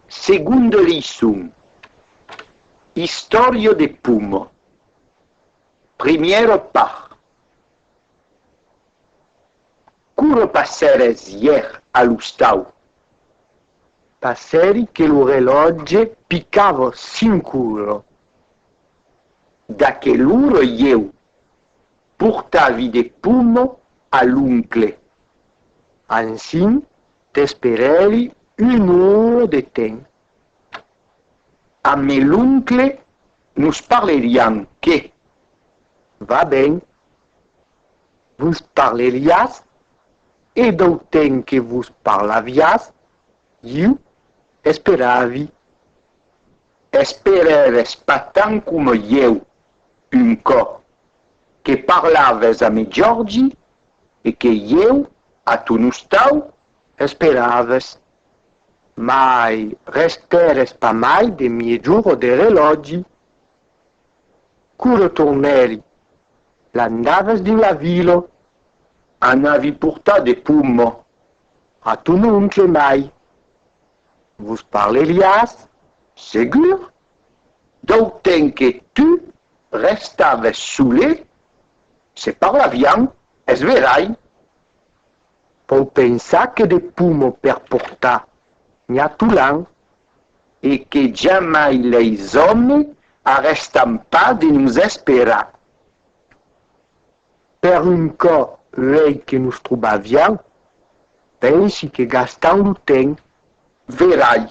Segonde leiçon. Istòria de Pomo. Primièra part. Quo repassères ièr a l'ostau? Passèri que lo relòtge picava cinc ora. D'aquel'ora ieu portavi de pomo a l'oncle. Ansin T'esperèli un ora de temps. Amb me l'oncle nos parleriam, que? Va ben. Vos parleriatz e dau temps que vos parlaviatz iu esperavi. Esperèves pas tant coma ieu, un còp que parlaves a me Jordi e que ieu a ton ostau esperaves, mai restères pas mai de miejor'o de relògi. Quoro tornèri, l'andaves dins la vila, an avi portat de pomma a ton oncle mai vos parleriás, segur, d'autenque tu restaves sole Se parlavián, es verai! Vau pensar que de pomo per portar Miatolan e que jamai leis òme arrèstan pas de nos esperar! Per un cò uèi que nos trobavián, pensi que gastam lo temps, verai!